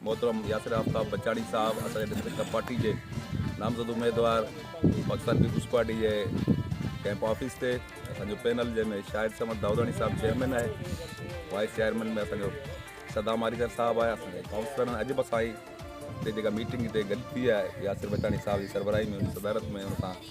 محترم ياسر آفتاب بچاڻي صاحب اسان جي ڊسٽرڪٽ ڪپ پارٽي جي نامزد اميدوار پاڪستان پيپلز پارٽي جي ڪيمپ آفيس تي اسان جو پينل جنهن ۾ شاهد سمد داوداڻي صاحب چيئرمين آهي وائس چيئرمين ۾ اسان جو صدام آريسر صاحب آهي اسان جي ڪائونسلرن اڄ به اسان جي جيڪا ميٽنگ هتي گڏ ٿي آهي ياسر بچاڻي صاحب جي سربراهي ۾ ان صدارت ۾ ان سان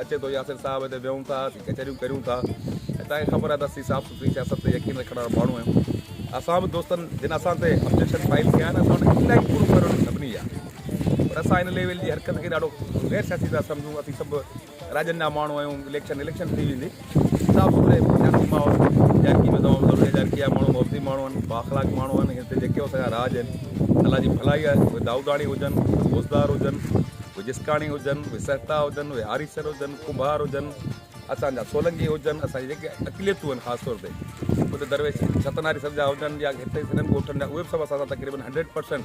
اچي ٿو ياسر صاحب هتي ويهون ٿا اسين ڪچهريون ڪريون ٿا ۽ تان کي خبر آهي ته اسين صاف سٿري سياست تي يقين رکڻ وارا ماڻهو آهيون اسان به دوستن جن اسان تي ابجيڪشن فائل ڪيا آهن اسان ان کي الاهي پورو ڪرڻ واري سڀني جا پر اسان ان ليول جي حرڪت کي ڏاڍو غير سياسي ٿا سمجهون اسين سڀ راڄن جا ماڻهو آهيون اليڪشن اليڪشن ٿي ويندي صاف سٿري سياسي ماحول جهڙڪي ۾ تمام ضروري آهي جهڙڪي جا ماڻهو محبتي ماڻهو آهن بااخلاق ماڻهو آهن هتي جيڪي اسان جا راج آهن الله جي ڀلائي آهي اهي دائوداڻي هجن روزدار هجن اهي جسڪاڻي هجن اهي سهتا هجن اهي آريسر هجن ڪنڀار هجن اسان جا سولنگي هجن اسان جي جيڪي اقليتون آهن خاص طور تي هتي درويش ستناري سر جا هجن يا هتي سنڌ ڳوٺن جا اهي به سڀ اسان سان تقريبن هنڊريڊ پرسنٽ